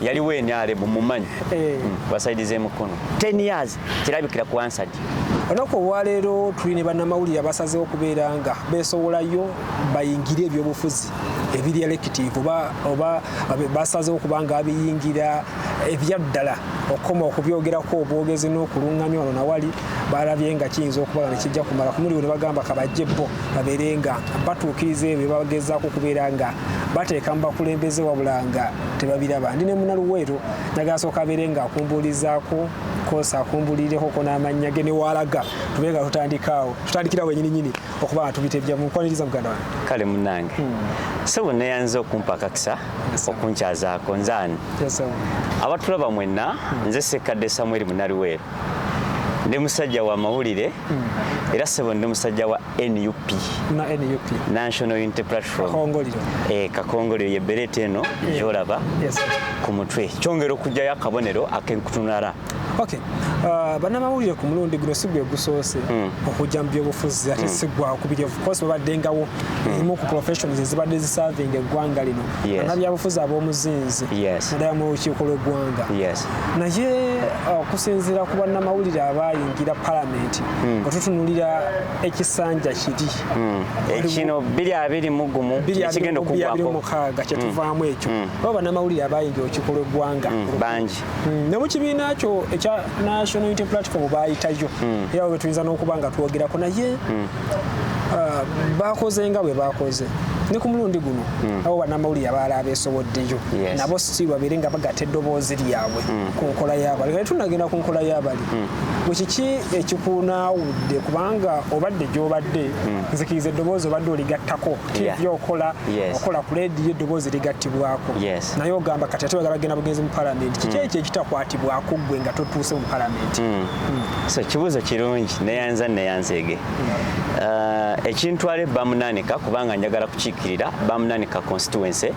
yaliwo enyalemu mumanyi eh. hmm, basaidiza emukono 10 years kirabikira ku ansadi olunaku olwaleero tuli ne bannamawulire abasazeho okubeera nga besowolayo bayingire ebyobufuzi ebiri elective oba oba basazeho okuba nga abiyingira ebyaddala okukoma okubyogerako obwogezi n'okulunganya wano nawali balabye nga kiyinza okuba nga nekijja kumala kumuliwo ne bagamba kabajje bo babeere nga batuukiriza ebyo bagezaako okubeera nga bateeka mu bakulembeze wabula nga tebabiraba ndi ne muna luweero njagala sooka abeere nga akumbuulizaako kosa akumbulirekoko n'amannya ge newaalaga tube nga tutandikaawo tutandikira wenyini nyini okuba nga tubitebja mukwaniriza muganda wange kale munange hmm. sebo neyanza okumpa akakisa okunkyazako nze ani abatulaba mwenna hmm. nze sekkadde samweri munaliweero ndi musajja wa mawulire hmm. era sebo ndi musajja wa nup na nup national unity platform kakongoliro eh kakongoliro ye berete eno jolaba yes ku mutwe kyongera okujjayo akabonero akenkutunara okay uh, banamawulire ku mulundi guno sigwe gusoose mm. okujja mu byobufuzi ate mm. sigwa okubiri of course babaddengawo hmm. ezimu ku professions ezibadde ziserving eggwanga lino anabyabufuzi ab'omuzinzi naddala mu lukiiko lw'eggwanga naye uh, okusinziira ku bannamawulire abayingira palamenti hmm. nga tutunulira ekisanja kiri hmm. ekino biri abiri mu gumu ekigenda okugwakomukaaga kyetuvaamu hmm. ekyo oba banamawulire abayinja okikola eggwanga bangi ne mu kibiina kyo ekya national unity platform bayitayo era we tuyinza n'okuba nga twogerako naye ah, bakoze nga bwe bakoze ne ku mulundi guno hmm. abo banamawulire abaala abeesoboddeyo nabo si babeere nga bagata eddoboozi lyabwe hmm. ku nkola y'abali kale tunagenda ku nkola y'abali hmm. gwe kiki ekikunaawudde kubanga obadde gyobadde hmm. nzikiriza eddoboozi obadde oligattako tv okola okola ku lediyo eddoboozi ligattibwako naye ogamba kati ate bagala bagenda bugenzi mu palamenti kiki hmm. ekyo ekitakwatibwako gwe nga totuuse mu palamenti hmm. so kibuuzo kirungi neyanza neyanzeege uh, ekintwala ebamunanika kubanga njagala kukiikirira bamunanika constituency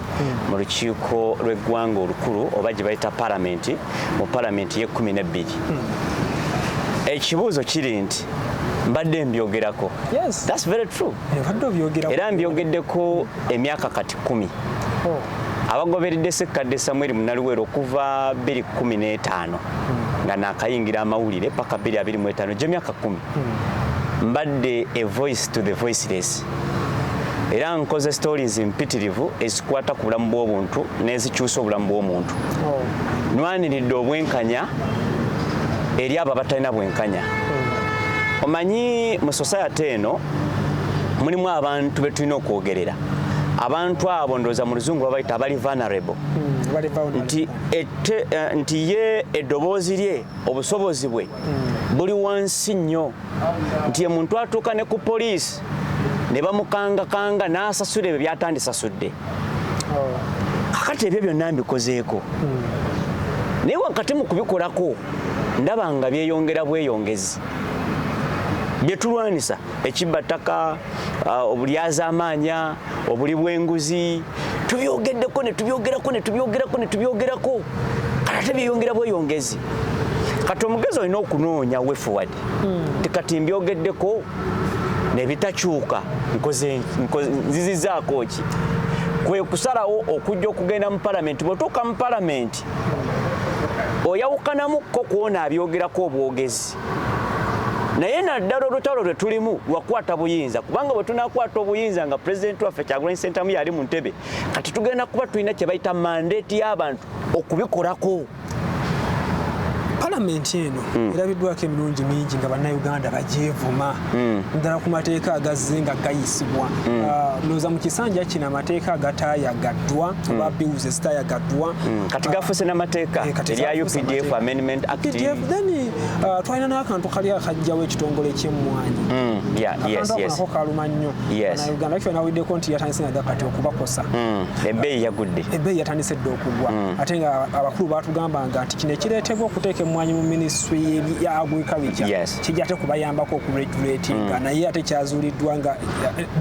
mu lukiiko lw'eggwanga olukulu oba gye bayita palamenti mu palamenti y'ekkumi n'ebbiri ekibuuzo kiri nti mbadde mbyogerako era mbyogeddeko emyaka kati kumi oh. abagoberedde sekkadde samweri munaliweero okuva 215 hmm. nga nakayingira amawulire paka 225 gyemyaka kumi hmm. mbadde a voice to the voiceless era nkoze stories mpitirivu ezikwata ku bulamu bw'obuntu n'ezikyusa obulamu bw'omuntu oh. nwaniridde obwenkanya eri abo abatalina bwenkanya hmm. omanyi mu society eno mulimu abantu be tulina okwogerera abantu abo ndowooza mu luzungu babayita abali vulnerable hmm, nti eh, nti ye eddoboozi lye obusobozi bwe hmm. buli wansi nnyo nti omuntu atuuka ne ku poliisi ne bamukangakanga n'asasula ebyo byatandisasudde oh. kakati ebyo byonna mbikozeeko hmm. naye wakati mu kubikolako ndaba nga byeyongera bweyongezi byetulwanisa ekibba ttaka uh, obulyazaamaanya obuli bw'enguzi tubyogeddeko ne tubyogerako ne tubyogerako ne tubyogerako kati ate byeyongera bweyongezi kati omugezi olina okunoonya wefuwadi hmm. tikati mbyogeddeko nebitakyuka nzizizaako ki kwe kusalawo okujja okugenda mu palamenti bwetuuka mu palamenti oyawukanamu ko kwona abyogerako obwogezi naye naddala olutalo lwe tulimu lwakukwata buyinza kubanga bwe tunakwata obuyinza nga pulezidenti waffe kyagulanyi sentamu yali mu ntebe kati tugenda kuba tulina kye bayita mandeeti y'abantu okubikolako palamenti eno hmm. erabiddwako emirundi mingi nga bannayuganda bagyevuma hmm. ddala ku mateeka agazze nga gayisibwa hmm. ah, ndowooza mu kisanja kino amateeka agatayagaddwa kuba mm. bills ezitayagaddwa mm. kati ah, gafuse n'amateeka eh, erya updf amendment act then uh, twalina n'akantu kali akajjawo ekitongole ky'emmwanyi akantu kaluma nnyo uganda kifa nawiddeko nti yatandise nadda kati okubakosa ebbeeyi yagudde ebbeeyi yatandise dda okugwa ate nga abakulu baatugambanga nti kino ekireetebwa okuteeka emmwanyi mu minisitule ya agriculture kijja ate kubayambako okuregulatinga naye ate kyazuuliddwa nga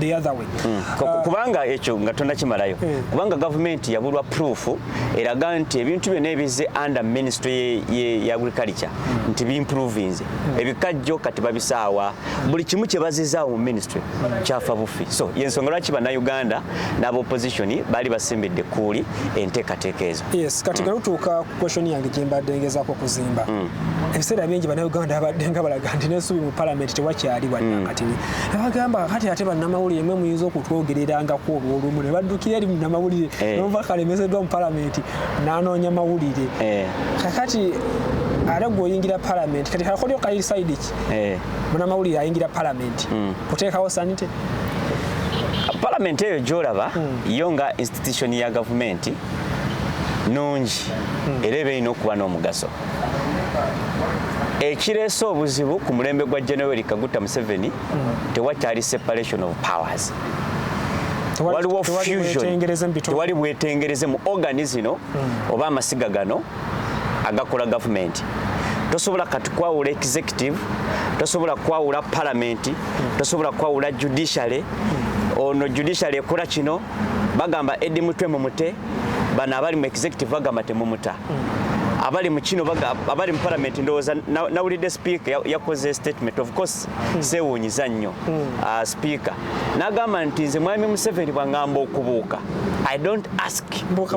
the other way hmm. ah. kubanga ekyo nga tonakimalayo hmm. kubanga gavumenti yabulwa proof eraga nti ebintu byona ebizze under ministry ye agriculture hmm. nti bimprovinze ebikajjo kati babisaawa buli kimu kyebazizaawo mu ministry kyafa bufi so yensonga lwaki banauganda n'aba opposition baali basimbidde kuuli enteekateeka ezo yes kati nga lutuuka question yange gyembadde ngezako kuzimba mm. ebiseera bingi banauganda abadde nga balaga nti nesubi mu palamenti tewakyali wadakatini mm. abagamba kati ate banamawulire mwe muyinza okutwogererangako olwolumu nebaddukira eri munamawulire eh. nova kalemezeddwa mu palamenti nanoonya mawulire eh. kakati ate gweoyingira palamenti kati kakolyo kairi saidi ki eh. munamawulire ayingira palamenti mm. kuteekawo sanite palamenti eyo gyolaba mm. yo nga institution ya gavumenti nnungi hmm. era eba erina okuba n'omugaso ekireese obuzibu ku mulembe gwa general kaguta museveni hmm. tewakyali separation of powers waliwo fusion tewali bwetengereze mu organi zino hmm. oba amasiga gano agakola gavumenti tosobola kati kwawula executive tosobola kwawula palamenti tosobola kwawula judiciary ono judiciary ekola kino bagamba Eddie Mutwe mumute bano abali mu executive bagamba temumuta abali mu kino abali mu parliament ndowooza nawulidde speaker yakoze statement of course hmm. sewuunyiza nnyo hmm. ah, speaker nagamba nti nze mwami museveni bwangamba okubuuka i don't ask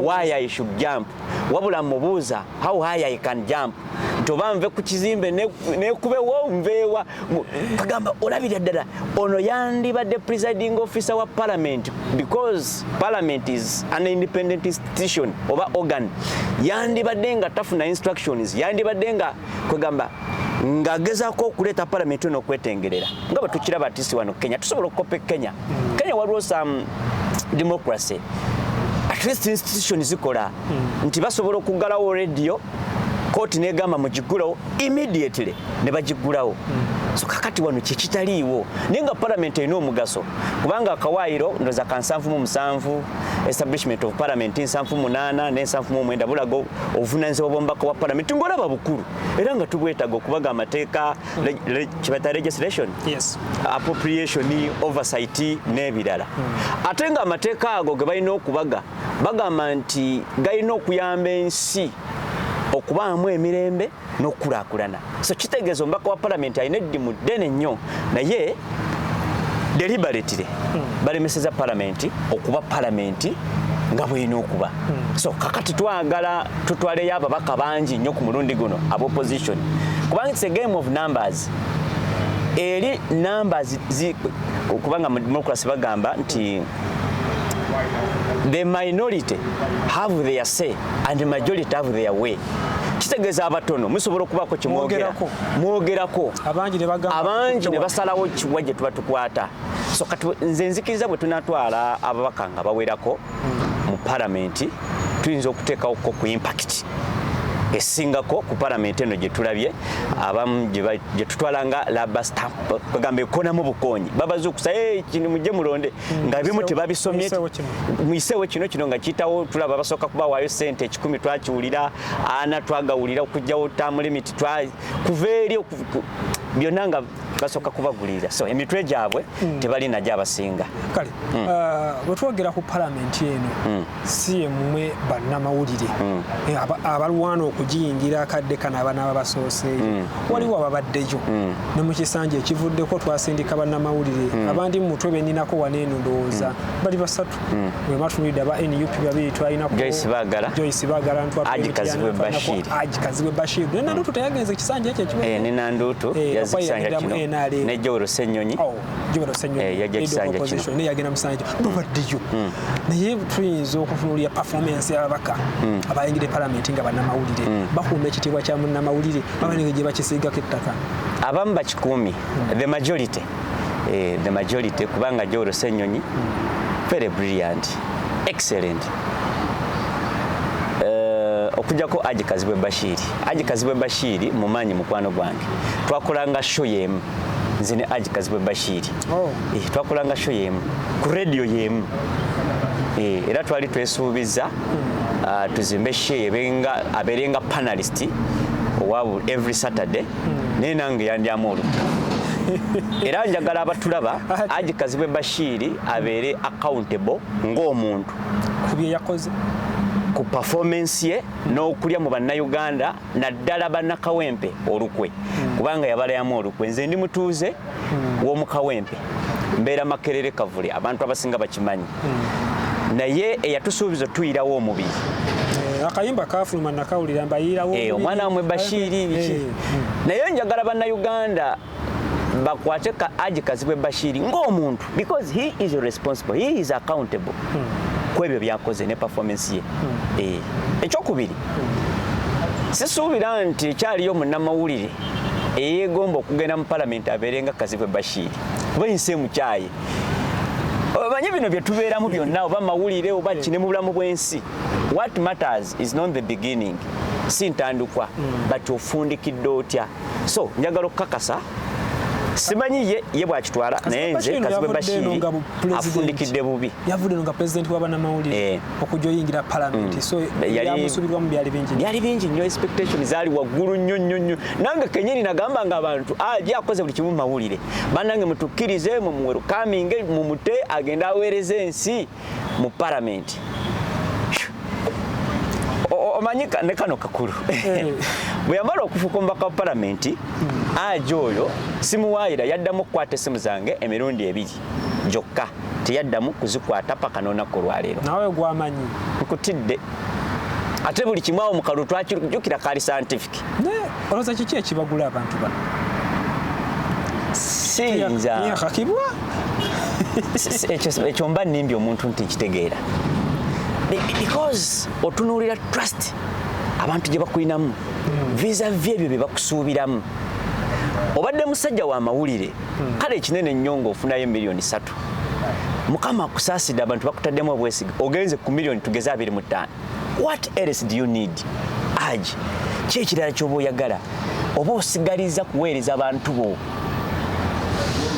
why i should jump wabula mubuuza how high i can jump nti oba nve ku kizimbe nekubewo nveewa kagamba olabira ddala ono yandibadde presiding officer wa parliament because parliament is an independent institution oba organ yandibadde nga tafuna instructions yandibadde nga kwegamba ng'agezaako okuleeta palamenti ono okwetengerera nga bwe tukiraba atisi wano kenya tusobola okukopa e kenya kenya waliwo some democracy at least institution zikola hmm. nti basobola okuggalawo radio kooti negamba mugigulewo immediately ne bagiggulawo hmm. so kakati wano kyekitaliiwo naye nga palamenti erina omugaso kubanga akawaayiro ndoza ka nsanvu mu musanvu establishment of parliament nsanvu munaana n'ensanvu mu omwenda bulaga obuvunanyizibwa bw'omubaka wa palamenti ng'olaba bukulu era nga tubwetaga okubaga amateeka hmm. kibata registration appropriation oversight n'ebirala hmm. ate nga amateeka ago ge balina okubaga bagamba nti galina okuyamba ensi okubaamu emirembe n'okukulaakulana so kitegeeza omubaka wa palamenti alina eddimu ddene nnyo naye deliberately hmm. balemeseza palamenti okuba palamenti nga bwena okuba hmm. so kakati twagala tutwaleyo ababaka bangi nnyo ku mulundi guno ab opposition kubanga its a game of numbers eri numbers kubanga mu democracy bagamba nti the minority have their say and the majority have their way kitegeeza abatono musobola okubaako kimwogerako mwogerako abangi ne basalawo kiwa gye tuba tukwata so kati nze nzikiriza bwe tunatwala ababaka nga bawerako hmm. mu paramenti tuyinza okuteekawo ko ku impakiti esingako ku paramenti eno gyetulabye abamu gyetutwala nga laba stamp bagamba ekonamu bukonyi babazukusa eh, kino mujje mulonde hmm. nga bimu tebabisomye muyiseewo kino kino nga kiyitawo tulaba basooka kubawaayo sente ekikumi twakiwulira ana twagawulira okugjawo tamu limiti kuva eri byonna nga basooka kubagulirira so emitwe gyabwe hmm. tebalinajo abasinga kale hmm. uh, wetwogera ku palamenti eno si yemmwe bannamawulire hmm. eh, abalwana okugiyingira akadde kano abanaaba basooseeyo hmm. waliwo ababaddeyo hmm. ne mu kisanja ekivuddeko twasindika bannamawulire abandi mu mutwe beninako wana eno ndowooza bali basatu wematulidde aba nup babiri twalinakojoyce bagalanagikazibwe bashir nenandutu teyagenze ekisanja ekyo ekiwenenadutu eh, eh, yazikisanja kino nejowero senyonyi oh. jubalo senyo eh, yajja kisanja kino ne yagenda musanja hmm. babaddeyo hmm. naye tuyinza okutunuulira performance y'ababaka hmm. abayingidde palamenti nga bannamawulire bakuuma ekitiibwa kya munnamawulire babanenge gye bakisiigako ettaka abamu bakikuumi the majority eh, the majority kubanga jowolo senyonyi very brilliant excellent okujako aji kazibwe bashiri aji kazibwe bashiri mumanyi mukwano gwange twakolanga show yemu nze ne Aj Kazibwe Bashiri oh. eh, twakolanga show yemu ku radio yemu eh, era twali twesuubiza hmm. ah, tuzimbe shee abeerenga panalist owabu every Saturday hmm. naye nange yandyamu oluku era njagala abatulaba Aj Kazibwe Bashiri abeere accountable ng'omuntu ku bye yakoze ku performance ye n'okulya mu bannayuganda naddala bannakawempe olukwe hmm. kubanga yabalayamu olukwe nze ndi mutuuze hmm. w'omukawempe mbeera makerere kavule abantu abasinga bakimanyi hmm. naye eyatusuubiza tuyirawo omubiri eh, akayimba kafuluma nakawulira mbayirawo eh, omwana wamwe bashiiri eh, naye njagala bannayuganda bakwate ka aji kazibwe bashiri ng'omuntu because he is responsible he is accountable hmm. ku ebyo byakoze ne performance ye hmm. eh, ekyokubiri hmm. sisuubira nti ekyaliyo munnamawulire eyegomba okugenda mu palamenti abeere nga kazibwe bashiri oba ensi emukyaye omanyi bino bye tubeeramu byonna oba mawulire oba kine mu bulamu bw'ensi what matters is not the beginning si ntandikwa but ofundikidde otya so njagala okukakasa simanyi ye ye bwakitwala naye nze kazibwe bashiri afundikidde bubi yavudde nga pulezidenti wa banamawulire eh. okujja oyingira palamenti mm. so yamusubirwamu byali bingi byali bingi nnyo expectation zaali waggulu nnyo nnyo nnyo nange kenyini nagamba nga abantu aje ah, akoze buli kimu mawulire banange mutukkirize mumuwerukaminge mumute agende aweereza ensi mu paramenti omanyi ne kano kakulu eh. bwe yamala okufuka omubaka wa paramenti hmm. aja oyo simuwaayira yaddamu okukwata essimu zange emirundi ebiri gyokka teyaddamu kuzikwata paka n'olunaku olwaleero nawe gwamanyi nkutidde ate buli kimu awo mukalulu twakijukira kali scientific naye olowooza kiki ekibagula abantu bano siyinza yakakibwa ekyo mba nimbi omuntu nti nkitegeera because otunuulira trust abantu gye bakulinamu visa vy ebyo bye bakusuubiramu obadde musajja wa mawulire hmm. kale ekinene nnyo ng'ofunayo miliyoni satu mukama akusaasidde abantu bakutaddemu obwesige ogenze ku miliyoni tugeze abiri mu ttaano what else do you need aji ki ekirala kyoba oyagala oba osigaliza kuweereza bantu bo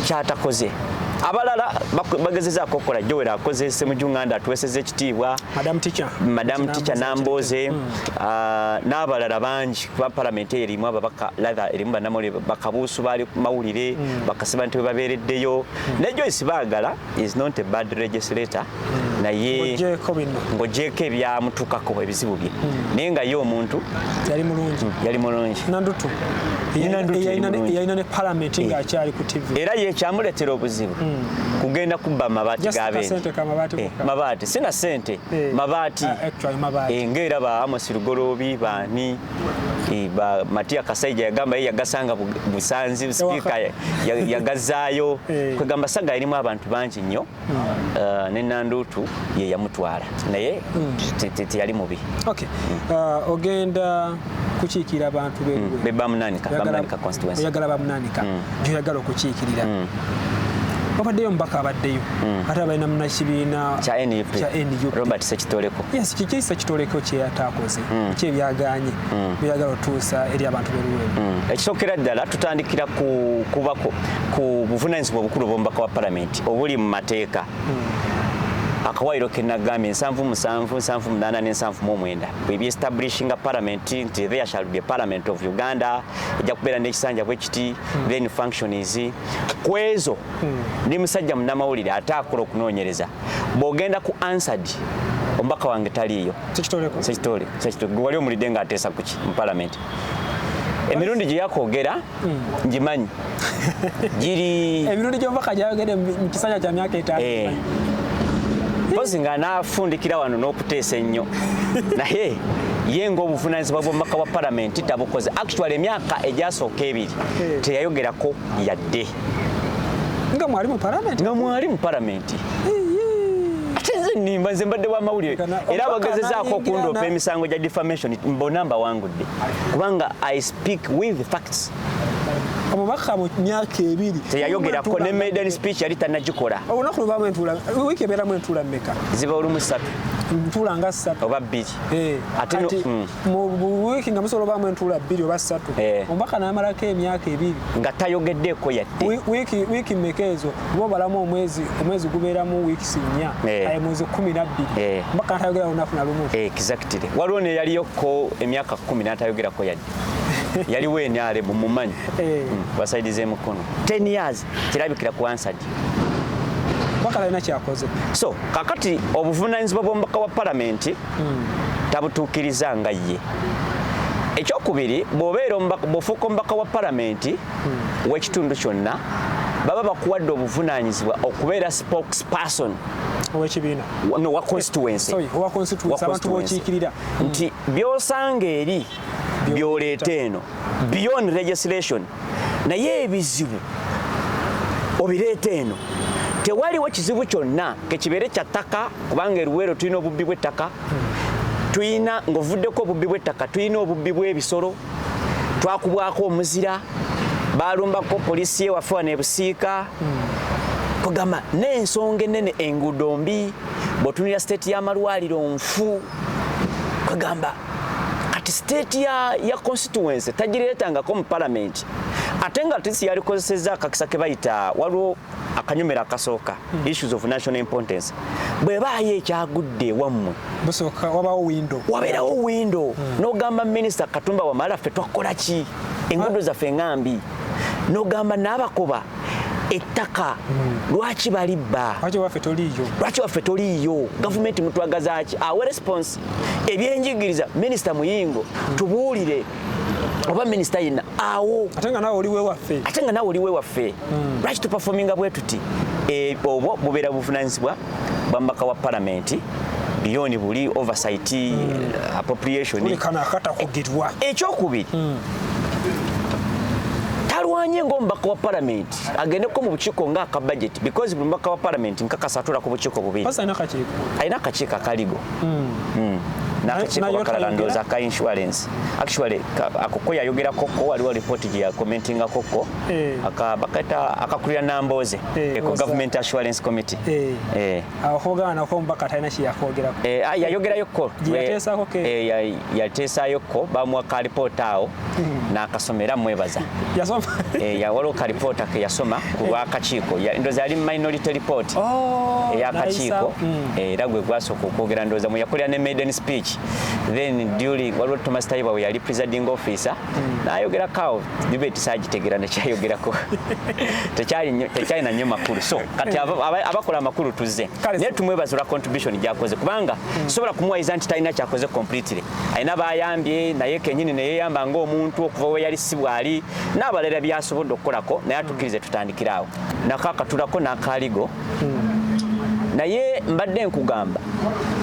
kyatakoze abalala bagezezaako okukola jowera akoze semujunganda atuweseza ekitiibwa madamu tica namboze hmm. ah, n'abalala bangi kuba palamenti eyo erimu ababaka latha erimu banamole bakabuusu baali mawulire hmm. bakasiba nti webabeereddeyo hmm. naye joyce baagala is not a bad legislator hmm. naye ng'ogyeko ebyamutukako ebizibu bye hmm. naye nga ye omuntu yali mulungi yali mulungi nandutu yalina ne palamenti eh. ng'akyali ku tv era ye kyamuleetera obuzibu hmm. kugenda kubba mabaati gabende eh, mabaati sina sente eh. mabaati ah, ngaera ba amosi lugoloobi baani ba Matia Kasaija yagamba yeye yagasanga Busanzi speaker yagazaayo eh. kwegamba saga yalimu abantu bangi nnyo hmm. uh, ne Nandutu ye yamutwala naye hmm. teyali mubi okay hmm. uh, ogenda kukiikirira abantu be bamunanika bamunanika constituency oyagala bamunanika gyoyagala okukiikirira wabaddeyo omubaka abaddeyo hmm. ate abalina munakibiina kya nup robert sekitoleko yes kiki sekitoleko kyeyataakoze hmm. ki ebyagaanye hmm. byeyagala otuusa eri abantu beluweemu hmm. ekisookera ddala tutandikira kubako ku buvunanyizibwa obukulu obwomubaka wa palamenti obuli mu mateeka akawaayiro kenagambye nsanvu musanvu nsanvu munaana nensanvu muomwenda ebyo establishinga parliament nti there shall be parliament of uganda ejja kubeera nekisanja bwekiti then function is kwezo ne musajja munamawulire ate akola okunoonyereza bwogenda ku answered omubaka wange taliiyo gwe wali omulidde nga ateesa kuki mu palamenti emirundi gye yakwogera hmm. ngimanyi giri emirundi gy'omubaka gyayogedde mu kisanja kya myaka etaano eh. mpozi nga nafundikira wano n'okuteesa ennyo naye ye ngaobuvunanyizibwa bwomumaka wa palamenti tabukoze actual emyaka egyasooka ebiri teyayogerako yadde nga mwali mu palamenti nga mwali mu palamenti nimba nze mbadde wa mawulire era abagezezaako okundoopa emisango gya defamation mbona mbawangudde kubanga i speak with facts omubaka mu myaka ebiri teyayogerako ne maiden speech yali tanagikola olunaku lubamu entula wiiki ebeeramu entula mmeka ziba olumu ssatu ntula nga ssatu oba bbiri kati eh, ate mm. mu wiiki nga musobola obaamu entuula bbiri oba ssatu eh. omubaka namalako emyaka ebiri nga tayogeddeeko yadde wiiki mmeka ezo oba obalamu omwezi omwezi gubeeramu wiikisi nnya eh. mwezi kumi nabbiri omubaka natayogera lunaku na lumu exactly waliwo neyaliyoko emyaka kumi natayogerako yadde yaliwo enyale bumumanyi mm, basaidiza emukono 10 years kirabikira ku ansadi bakalina kyakoze so kakati obuvunanyizibwa bwomubaka wa palamenti hmm. tabutuukiriza nga ye ekyokubiri bwobeera bwofuuka omubaka wa palamenti hmm. wekitundu kyonna baba bakuwadde obuvunanyizibwa okubeera spokes person owekibiina no wa constituency sorry wa constituency abantu bokiikirira nti byosanga eri byoleeta eno beyond legislation naye ebizibu obireeta eno tewaliwo kizibu kyonna kekibeere kya ttaka kubanga eruweero tulina obubbi bw'ettaka tulina ng'ovuddeko obubbi bw'ettaka tulina obubbi bw'ebisolo twakubwako omuzira balumbako poliisi yewaffe wano ebusiika kugamba n'ensonga ennene enguudo mbi bw'otunira siteeti y'amalwaliro nfu kugamba kati state ya, ya constituency tagireetangako mu palamenti ate nga tisi yalikozesezza akakisa ke bayita waliwo akanyumira akasooka hmm. issues of national importance bwe baayo ekyagudde ewammwe wabeerawo windo hmm. n'ogamba minisita katumba wamala ffe twakukola ki enguudo ah. zaffe nga mbi n'ogamba n'abakoba ettaka hmm. lwaki balibba lwaki waffe toliiyo gavumenti mutwagazaaki awe response ebyenjigiriza minisita muyingo tubuulire oba minisita yenna awo ate nga nawe oliwe waffe ate nga nawe oliwe waffe hmm. lwaki tupafominga bwe tuti eh, obwo bubeera buvunanyizibwa bwamubaka wa palamenti biyoni buli oversight hmm. appropriation ekyokubiri hmm. talwanye ngaomubaka wa palamenti agendeko mu bukiiko nga aka budget because buli mubaka wa parliament nkakasa atula ku bukiiko bubiri alina akakiiko akaligo hmm. Hmm. nakakiiko bakalala ndooza ka insurance actually akoko yayogerako ko waliwo lipooti gye yakomentingako ko eh. bakata akakulira nambooze eh, eko government assurance committee eh. akoogana nako omubaka talina kyeyakwogerako eh, ah, yayogerayokko yateesayokko eh, eh, bamuwa kalipoota awo hmm. nakasoma era mwebaza waliwo kalipoota ke yasoma ku lwakakiiko ndoza yali minority report oh, eyakakiiko hmm. era gwe gwasooka okwogera ndoza mwe yakolera ne maiden speech then during waliwo thomas taiba we yali presiding officer hmm. nayogerako awo debate sagitegera nekyayogerako tekyalina nnyo makulu so kati abakola amakulu tuzze naye tumwebaza olwa contribution gyakoze kubanga hmm. sobola kumuwayiza nti talina kyakoze completely alina bayambye naye kenyini neyeyamba ngaomuntu okuva weyali si bwali n'abalala byasobodde okukolako naye atukirize tutandikiraawo nakakatulako nakaligo naye mbadde nkugamba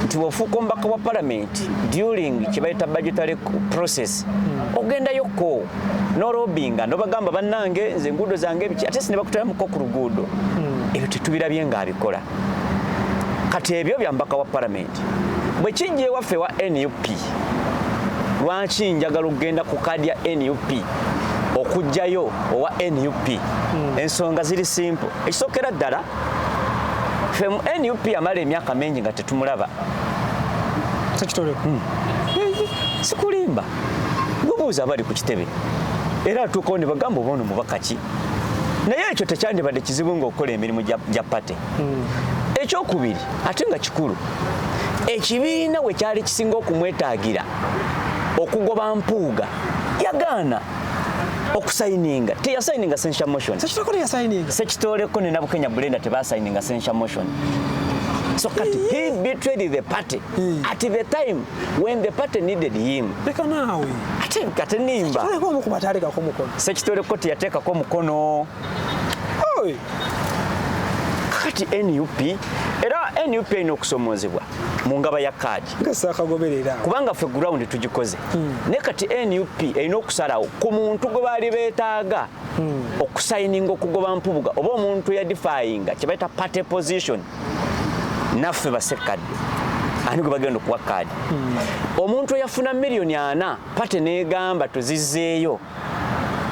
nti bwofuuka omubaka wa palamenti during kyebayita budgetary process ogendayokko norobinga nobagamba bannange nze enguudo zange ebiki ate sinebakutalamuko ku luguudo hmm. ebyo tetubirabye nga abikola kati ebyo byambaka wa palamenti bwekijja ewaffe wa nup lwaki njagala okugenda ku kaadi ya nup okugjayo owa nup hmm. ensonga ziri simple Ekisokera ddala ffe mu nup amala emyaka mingi nga tetumulaba sekitole hmm. sikulimba bubuuza abali ku kitebe era atuukawo ne bagamba oba ono mubaka ki naye ekyo tekyandibadde kizibu ngaokukola emirimu gya pate hmm. ekyokubiri ate nga kikulu ekibiina we kyali kisinga okumwetaagira okugoba mpuuga yagaana okusayininga teyasayininga censure motion sekitoleko teyasayininga sekitoleko ne nabukenya bulenda tebasayininga censure motion So kati he betrayed the party mm. at the time when the party needed him. Leka nawe. Ate kati nimba. Sekitole ko mukuba tareka ko mukono. Sekitole ko tiyateka ko mukono. Oi. Kati NUP era NUP ino kusomozebwa mu ngaba ya card. nga saakagoberera kubanga ffe gurawundi tugikoze hmm. ne kati nup erina okusalawo ku muntu gwe baali beetaaga hmm. okusayininga okugoba mpubuga oba omuntu yadifayinga kye bayita party position naffe basekkadde ani gwe bagenda okuwa kaadi hmm. omuntu eyafuna miliyoni ana pate neegamba tuzizeeyo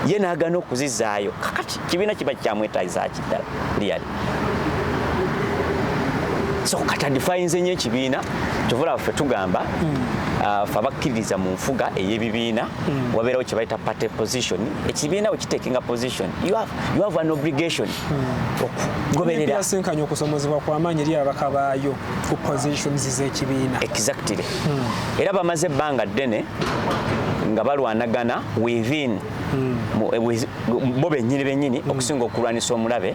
ye n'agaana okuzizaayo kakati kibiina kiba kyamwetaagisa ki ddala liyali so katadifayinze nyo ekibiina kyovula waffe tugamba hmm. uh, fe abakkiririza mu nfuga ey'ebibiina hmm. wabeerawo kye bayita party position ekibiina we kitekinga position you have, you have an obligation hmm. okugobereraasinkanya okusomozebwa kwamaanyi eri abaka baayo ku positions z'ekibiina exactly hmm. era bamaze ebbanga ddene nga balwanagana within hmm. eh, bo benyini benyini hmm. okusinga okulwanisa omulabe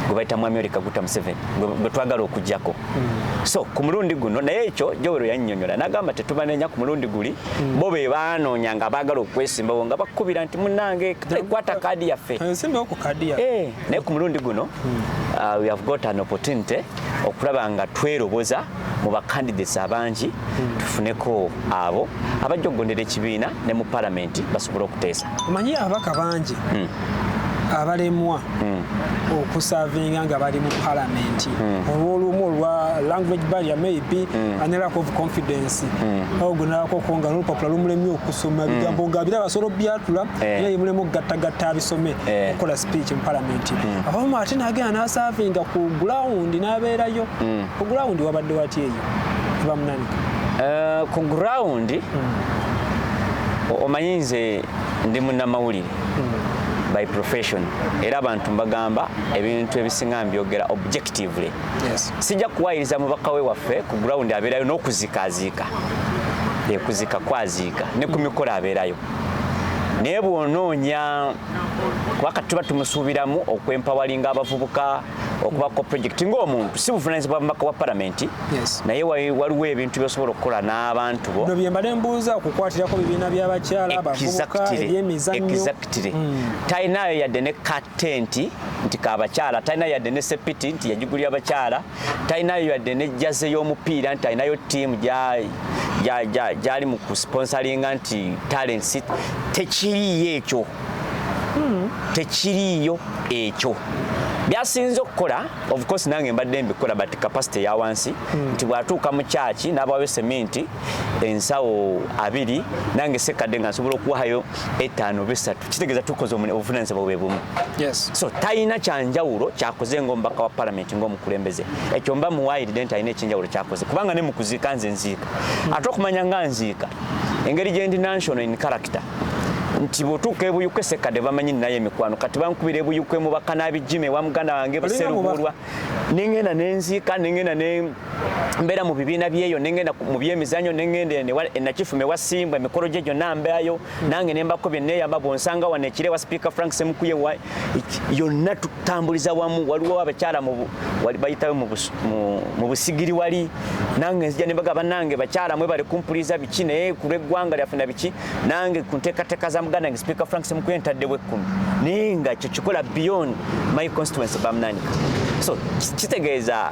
gwe bayita mwami oli kaguta museveni gwe twagala okujjako hmm. so ku mulundi guno naye ekyo jowero yannyonyola nagamba tetubanenya ku mulundi guli hmm. bo be baanoonya nga baagala okwesimbawo nga bakukubira nti munange kwata kaadi yaffe eh, eh, naye ku mulundi guno hmm. uh, we have got an opportunity okulaba nga tweroboza mu bakandidates abangi hmm. tufuneko abo abajja okugondera ekibiina ne mu palamenti basobole okuteesa omanyi ababaka bangi hmm. abalemwa hmm. okusavinga nga bali mu palamenti olwolumu olwa language barrier maybe and lack of confidence ogunalako ko nga nolupapula lumulemye okusoma bigambo nga bira basolo byatula eh. era yemulemu okugattagatta abisome eh. okukola speech mu parliament hmm. abamu ate nagenda nasavinga ku ground nabeerayo hmm. ku ground wabadde wati eyo bamunani eh, ku ground hmm. omanyi nze ndi munnamawulire by profession era abantu mbagamba ebintu ebisinga mbyogera objectively yes. sijja kuwayiriza mubaka we waffe ku ground abeerayo n'okuzikaaziika ekuzika kwaziika ne ku mikolo abeerayo naye bw'onoonya kuba kati tuba tumusuubiramu okwempawalinga abavubuka okubako project ng'omuntu si buvunaanyizibwa bumaka bwa palamenti naye waliwo ebintu byosobola okukola n'abantu bo bino byembadde mbuuza okukwatirako bibiina by'abakyala abavubuka ebyemizannyo hmm. talinayo yadde ne katenti nti kabakyala talina yadde ne sepiti nti yagigulira abakyala talinayo yadde ne jaze y'omupiira nti alinayo ttiimu gyali mu kusponsalinga nti talents tekiriiyo ekyo hmm. tekiriiyo ekyo byasinze okukola of course nange mbadde mbikola but capacity ya wansi hmm. nti bwatuuka mu kyaki n'abawayo seminti ensawo abiri nange sekadde nga nsobola okuwayo etaano besatu kitegeeza tukoze obuvunanyizibwa bwe bumu so talina kyanjawulo kyakoze ngaomubaka wa palamenti ngaomukulembeze ekyo mba muwayiride nti alina ekyenjawulo kyakoze kubanga ne mukuziika nze nziika hmm. ate okumanya nga nziika engeri gyendi national in character nti bwotuuka ebuyuka esekadde bamanyi naye emikwano kati bankubira ebuyuka emubaka n'abijima ewa muganda wange buserubulwa nengenda nenziika nengenda ne mbeera mu bibiina byeyo nengenda mu byemizanyo nengenda enakifuma ewa simba emikolo gye gyonna mbeayo nange nembako byeneyamba bwonsanga wano ekire wa sipiika frank semukuye yonna tutambuliza wamu waliwo abakyala bayitawe mu busigiri wali nange nzija nembaga banange bakyala mwe bali kumpuliza biki naye kulweggwanga lyaffe na biki nange ku nteekateeka za muganda nge sipiika frank semukuye ntaddewo ekkumi naye nga ekyo kikola beyond my constituency bamnanika so kitegeeza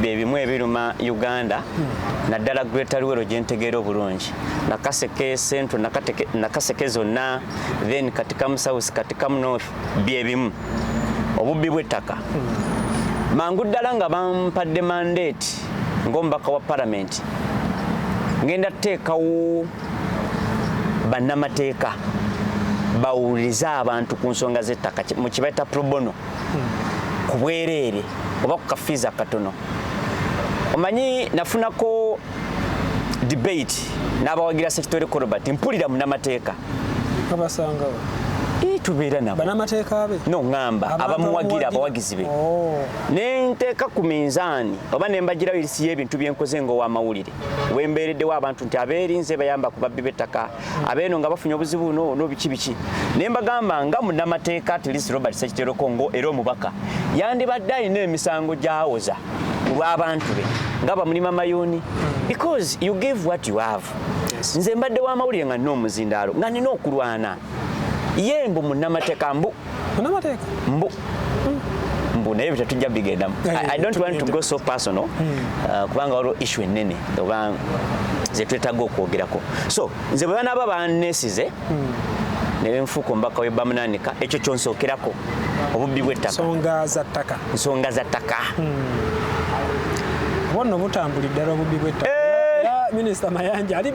bye bimu ebiruma uganda hmm. naddala greater luwero gye ntegeera obulungi nakaseke central nakaseke zonna then katikamu south katikamu north bye bimu obubbi bw'ettaka hmm. mangu ddala nga bampadde mandate ng'omubaka wa palamenti ngenda tuteekawo bannamateeka bawulirize abantu ku nsonga z'ettaka mu kibaita probono ku bwereere oba ku kafiizi akatono omanyi nafunako debate n'abawagira sekitore korobert mpulira munamateeka abasangawo tubeera nabo banamateeka be no ngamba abamuwagira abawagizi be oh. ne nteeka ku minzaani oba ne mbagirawo erisi y'ebintu bye nkoze ng'owamawulire wembeereddewo abantu nti abeerinze bayamba ku babbi b'ettaka abeeno nga bafunye obuzibu no no biki biki naye mbagamba nga munamateeka at least Robert Sekitero Kongo era omubaka yandibadde alina emisango gyawoza olw'abantu be nga bamulima mayuuni because you give what you have nze mbadde w'amawulire nga nina omuzindaalo nga nina okulwana ye mbu munamateeka mbu munamateeka mbu hmm. mbu naye byetatujja bigendamu eh, i don't want to go so personal hmm. uh, kubanga waliwo issue ennene oba zetwetaaga okwogerako so nze bwe banaaba banesize hmm. nebenfuuka omubaka we bamunanika ekyo kyonsookerako obubbi bwettaka nsonga za ttaka bonna obutambuli ddala obubbi bwettaka eh! minisita mayanja ali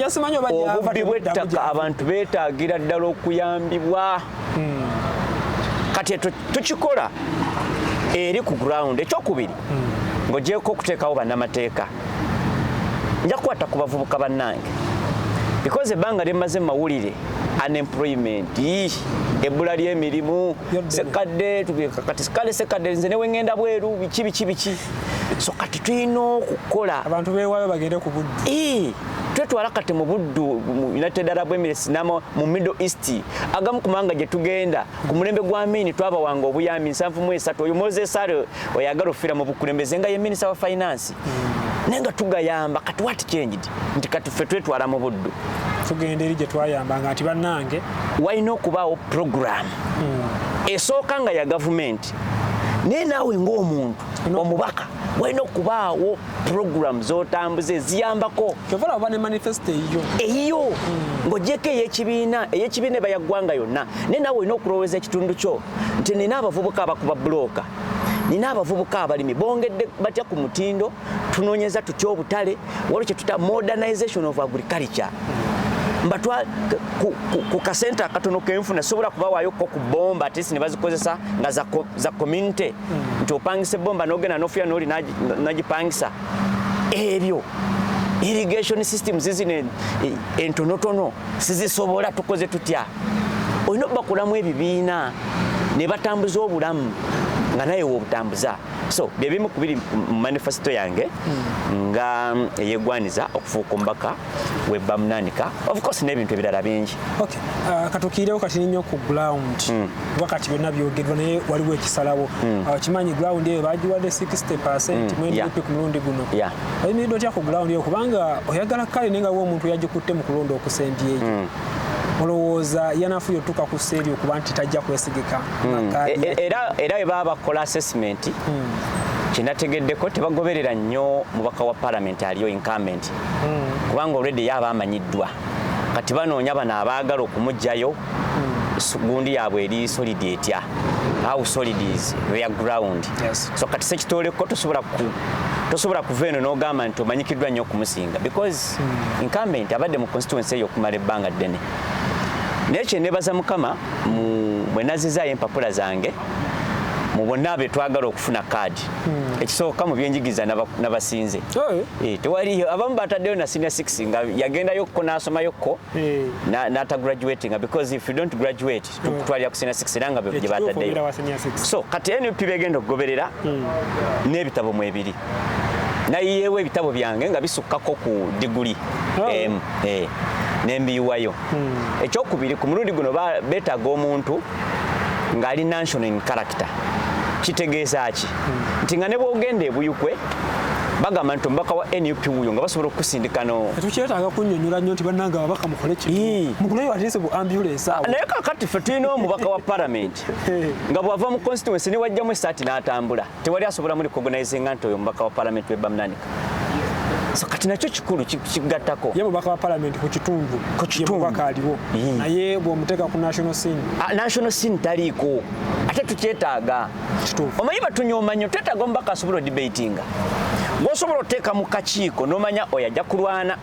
yasimanyi obubbi bwettaka abantu beetaagira ddala okuyambibwa hmm. kati ekyo tukikola eri ku ground ekyokubiri hmm. ng'ogyeko okuteekawo bannamateeka nja kukwata ku bavubuka bannange because ebbanga lyemmaze mawulire unemployment ebbula ly'emirimu sekadde kati kale sekadde nze newe ngenda bweru biki biki biki so kati tulina okukola abantu bewayo bagende ku buddu eh, twetwala kati mu buddu united arab emirates nama mu middle east agamu kumanga gye tugenda ku mulembe gwa mini twabawanga obuyambi nsanvu mu esatu oyo moses are oyagala ofira mu bukulembeze nga ye minister wa finance naye nga tugayamba kati what changed nti kati ffe twetwala mu buddu tugenda eri gye twayambanga nti bannange walina okubaawo puroguramu hmm. esooka nga ya gavumenti naye naawe ng'omuntu omubaka walina okubaawo puroguramu zotambuza eziyambako kyovalaba ne manifesito eyiyo eyiyo hmm. ng'ogyeko ey'ekibiina ey'ekibiina eba yaggwanga yonna naye naawe olina okulowooza ekitundu kyo nti nina abavubuka abakuba bulooka nina abavubuka abalimi bongedde batya ku mutindo tunonyeza tutya obutale waliwo kyetuta modernization of agriculture mbatwa ku, ku, ku kasente akatono kenfuna sobola kubawaayo ko ku bomba atisi nebazikozesa nga za, za community hmm. nti opangisa ebomba nogenda nofuya noli nagipangisa ebyo irrigation system zizino entonotono sizisobola tukoze tutya olina obakulamu ebibiina ne batambuza obulamu nga naye wobutambuza so byebimu kubiri mu manifesito yange hmm. nga eyegwaniza okufuuka omubaka webamunanika ofcourse n'ebintu ebirala bingi uh, katukiirewo kati ninyo ku ground hmm. kuba kati byonna byogerwa naye waliwo ekisalawo hmm. uh, kimanyi ground eyo bagiwadde 60 percent mwendipi ku mulundi guno oyimiridde otya ku gulawundi eyo kubanga oyagala kale naye nga we omuntu yagikutte mu kulonda okusembyeyo hmm. olowooza yanafuyo otuka ku seeri okuba nti tajja kwesigika hmm. e, e, era we baba bakola assessment hmm. kyenategeddeko tebagoberera nnyo mubaka wa palamenti aliyo incumbent kubanga olwedde ye aba amanyiddwa kati banoonya bano abaagala okumugjayo gundi yaabwe eri solid etya how solid is their ground yes. so kati sekitooleko tosobola ku tosobola kuva eno n'ogamba nti omanyikiddwa nnyo okumusinga because mm. incumbent abadde mu constituency eyo okumala ebbanga ddene naye kyenebaza mukama bwe nazizaayo empapula zange mu bonna be twagala okufuna kaadi hmm. ekisooka mu byenjigiriza nabasinze eh, tewaliyo abamu bataddeyo na senior 6 nga yagendayo kko n'asomayokko eh. nata graduatinga because if you don't graduate eh. tukutwalira ku senior 6 era nga bye bataddeyo so kati nup begenda okugoberera hmm. n'ebitabo mu ebiri nayiyeewo ebitabo byange nga bisukkako ku diguli oh. emu eh. nembiyiwayo hmm. ekyokubiri ku mulundi guno beetaaga omuntu ng'ali national in character kitegeeza ki nti nga ne bwogenda ebuyukwe bagamba nti omubaka wa nup wuyo nga basobola okukusindika no tetukyetaaga kunyonyola nnyo nti bannange ababaka mukole kimukuleyo atese bu ambulance awo naye kakati ffe tulina omubaka wa palamenti nga bw'ava mu constituency ne wajjamu essaati n'atambula tewali asobola muli kogonaizinga nti oyo omubaka wa palamenti we bamnanika so kati nakyo kikulu kigattako ye mubaka wa palamenti ku kitundu ku kitunduka aliwo naye bwomuteeka ku national scene ah, national scene taliiko ate tukyetaaga omanyi batunyooma nnyo twetaaga omubaka asobola odibatinga gwosobola oteeka mu kakiiko nomanya oyo ajja kulwana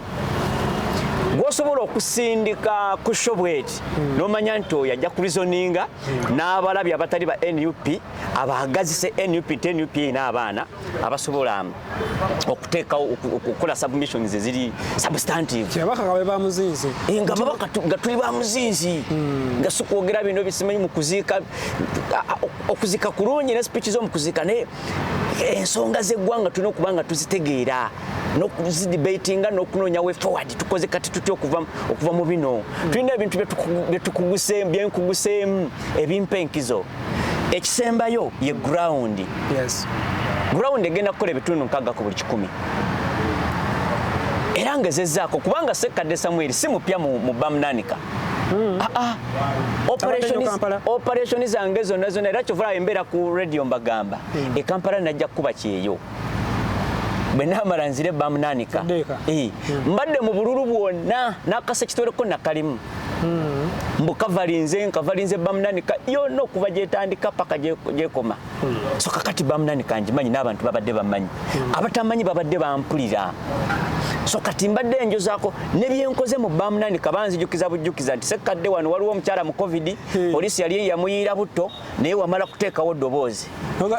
gwosobola okusindika ku shobweti hmm. nomanya nti oyo ajja kurizoninga hmm. n'abalabi abatali ba nup abagazise nup nti nup erina abaana abasobola um, okuteekawo okukola submissions eziri substantivebamuzinzi eh, nga babaka nga tuli bamuzinzi hmm. nga sikwogera bino bisimanyi mukuziika okuziika kulungi ne speech zomukuziika naye ensonga zeggwanga tulina okuba nga tuzitegeera nokuzidebatinga nokunoonya we forward tukoze kati tutya okuva mu bino hmm. tulina ebintu byetukuguseemu ebimpa enkizo ekisembayo ye ground yes. ground egenda kukola ebitundu nkaga ku buli kikumi era nga ezezaako kubanga sekkadde samweri si mupya mu bamnanika hmm. ah, ah. operation zange zonna zonna era kyovulaba embeera ku radio mbagamba hmm. ekampala najja kukuba kyeyo bwe namala nzire bamnanika eh. hmm. mbadde mu bululu bwonna nakasa kitwereko nakalimu hmm. mbu kavalinze nkavalinze bamunani yona okuva gyetandika paka gyekoma hmm. so kakati bamunani kangimanyi n'abantu babadde bamanyi hmm. abatamanyi babadde bampulira so kati mbadde enjozako nebyenkoze mu bamunani kabanzijukiza bujjukiza nti sekadde wano waliwo omukyala mu covid polisi yali yamuyiira butto naye wamala kuteekawo ddoboozi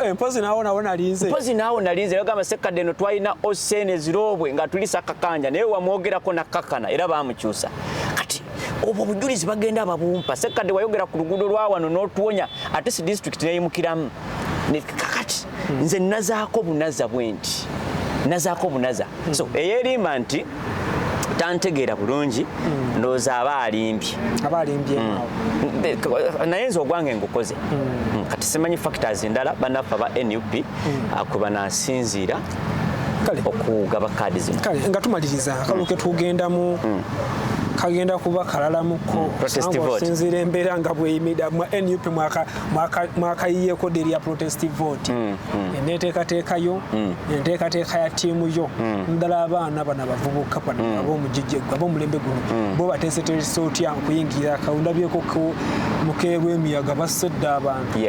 eh, mpozi naawo nawo nalinze mpozi naawo nalinze yagamba sekkadde eno twalina osen eziroobwe nga tulisa kakanja naye wamwogerako nakkakana era baamukyusa kati obwo obujulizi bagenda ababumpa sekkadde wayogera ku luguudo lwa wano n'otuwonya ate si disitulikiti neyimukiramu kakati hmm. nze nazaako bunaza bwe nti nazaako bunaza hmm. so eyerimba nti tantegeera bulungi hmm. ndowooza aba alimbye hmm. naye nze ogwange ngukoze hmm. kati simanyi factors endala banaffe aba nup ah, kwe banasinziira okugaba kaadi zino kale nga tumaliriza akalu ke tugendamu kagenda kuba kalalamuko osinziira embeera nga bweyimira nup mwaka mwakayiyeeko deri ya protest vote mm, mm. eneteekateeka yo mm. enteekateeka ya tiimu yo naddala abaana bano abavubuka bano abomugijje abomulembe guno bo bateeseteresa otya okuyingira kaundabyeko mukeerwa emiyaga basedde abantu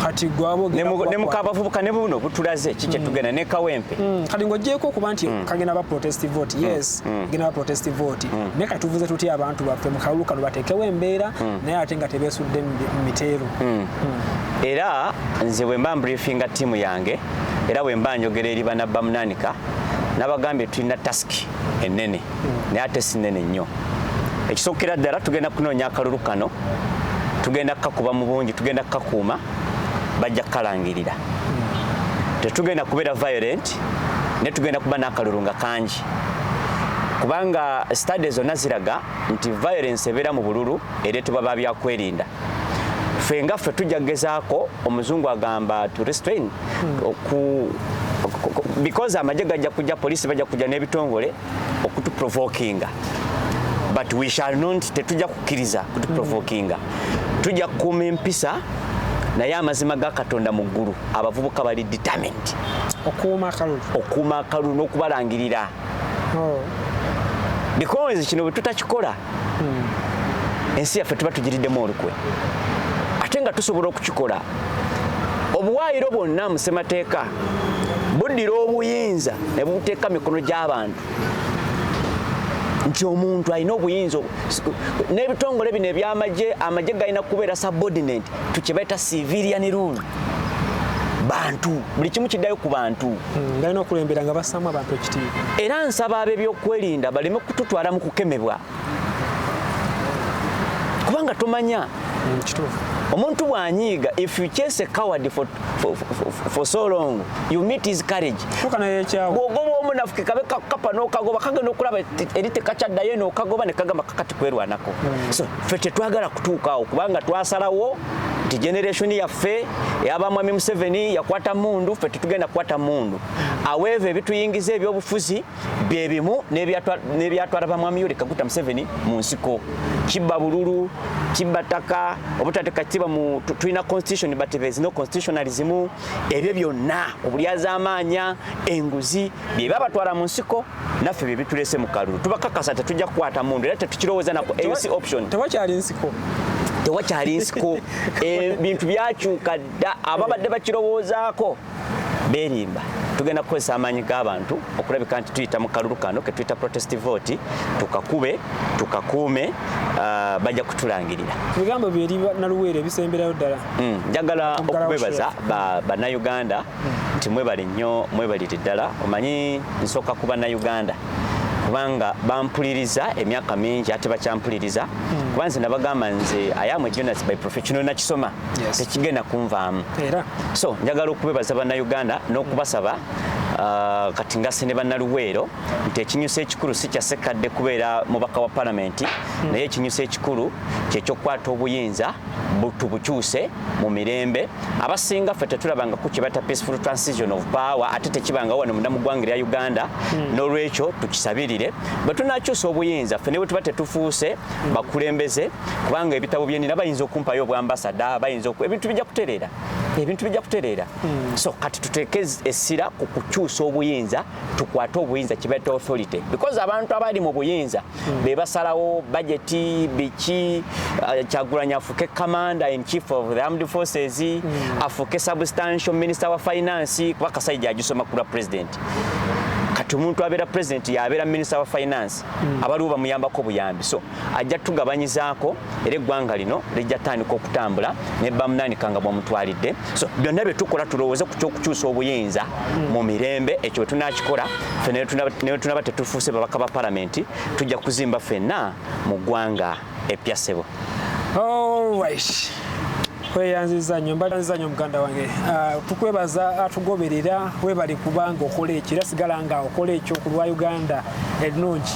kati gwabognemukabavubuka ne buno butulaze ki kyetugenda ne kawempe kati ng'ogyeko okuba nti kagenda ba protest vote yes genda ba protest vote naye katuvuze tutya abantu baffe mu kalulu kano bateekewo embeera naye ate nga tebesudde mu miteeru hmm. Hmm. era nze bwe mba mbriefinga ttiimu yange era bwe mba njogera eri bana bamunanika nabagambye tulina tasiki ennene hmm. naye ate sinene nnyo ekisookera ddala tugenda kunoonya akalulu kano tugenda kukakuba mu bungi tugenda kukakuuma bajja kukalangirira tetugenda kubeera violent naye tugenda kuba n'akalulu nga kangi kubanga stade zonna ziraga nti violence ebeera mu bululu ereetebwa ba byakwerinda ffe nga ffe tujja kugezaako omuzungu agamba to restrain oku because amagye gajja kujja poliisi bajja kujja n'ebitongole okutuprovokinga but we shall not tetujja kukkiriza kutuprovokinga tujja kukuuma empisa naye amazima ga katonda mu ggulu abavubuka bali determined okuuma akalulu okuuma akalulu n'okubalangirira oh. because kino bwe tutakikola hmm. ensi yaffe tuba tugiriddemu olukwe ate nga tusobola okukikola obuwaayiro bwonna mu ssemateeka buddira obuyinza ne buteeka mikono gy'abantu nti omuntu alina obuyinza n'ebitongole bino ebyamagye amagye galina kubeera subordinate tukyebaita civilian rule bantu buli kimu kiddayo ku bantu Hmm, balina okulembera nga bassaamu abantu ekitiibwa era nsaba ab'ebyokwerinda baleme kututwala mu kukemebwa kubanga tomanya hmm, kituufu omuntu bwanyiiga if you chase a coward for, for, for, for so long you meet his courage bwogoba omunafuke kabe kakapa nokagoba kagenda okulaba eri tekakyaddayo nokagoba nekagamba kakati kwerwanako hmm. so fe tetwagala kutuukaawo kubanga twasalawo nti generation yaffe eyaba mwami Museveni yakwata mundu ffe tetugenda kukwata mundu aweeva ebituyingiza ebyobufuzi bye bimu n'ebyatwala bamwami Yoweri Kaguta Museveni mu nsiko kibba bululu kibba ttaka obutateeka kitiibwa mu tulina constitution but there is no constitutionalism ebyo byonna obulyazaamaanya enguzi byeba batwala mu nsiko naffe bye bitulese mu kalulu tubakakasa tetujja kukwata mundu era tetukirowooza naku eyo si option tewakyali nsiko tewakyali nsiko ebintu eh, byakyuka dda ababadde bakirowoozaako berimba tugenda kukozesa amaanyi g'abantu okulabika nti tuyita mu kalulu kano ketuyita protest vote tukakube tukakuume uh, bajja kutulangirira ebigambo byeri naluweero ebisemberayo ddala hmm, njagala okubebaza bannayuganda nti mwebale nnyo mwebalire ddala omanyi nsooka ku bannayuganda kubanga bampuliriza emyaka mingi ate bakyampuliriza hmm. kuba nze nabagamba nze ayamu jonas by professional nakisoma tekigenda kunvaamu so njagala okubebaza bannayuganda n'okubasaba Ah, kati ngase ne bannaluweero nti ekinyusa ekikulu si kya sekkadde kubeera mubaka wa palamenti hmm. naye ekinyusa ekikulu kyekyokukwata obuyinza tubukyuse mu mirembe abasinga ffe tetulabanga ku kibata peaceful transition of power ate tekibanga wano munda mu ggwanga lya uganda hmm. n'olwekyo tukisabirire bwe tunakyusa obuyinza ffe ne bwe tuba tetufuuse hmm. bakulembeze kubanga ebitabo byenina bayinza okumpayo obwambasada bayinza ebintu bijja kutereera ebintu bijja kutereera hmm. so kati tuteeke essira ku kukyusa obuyinza tukwate obuyinza kibata authority because abantu abali mu buyinza hmm. be basalawo bajeti biki uh, kyagulanya afuke commander in chief of the armed forces mm. afuke substantial minister wa finance kuba kasajja ajusoma kula president kati omuntu abeera president yabeera minister wa finance mm. abaliwo bamuyambako buyambi so ajja tugabanyizaako era eggwanga lino lijja tandika okutambula ne bamunanika nga bwamutwalidde so byonna bye tukola tulowooze ku kyokukyusa obuyinza mu mirembe ekyo bwe tunakikola fe newe tunaba tetufuuse babaka ba palamenti tujja kuzimba fenna mu ggwanga eppya ssebo tweyanziza nyo mbalanziza nyo muganda wange ah, tukwebaza atugoberera ah, webali kubanga okola ekyo era sigala nga okola ekyo ku lwa uganda ennungi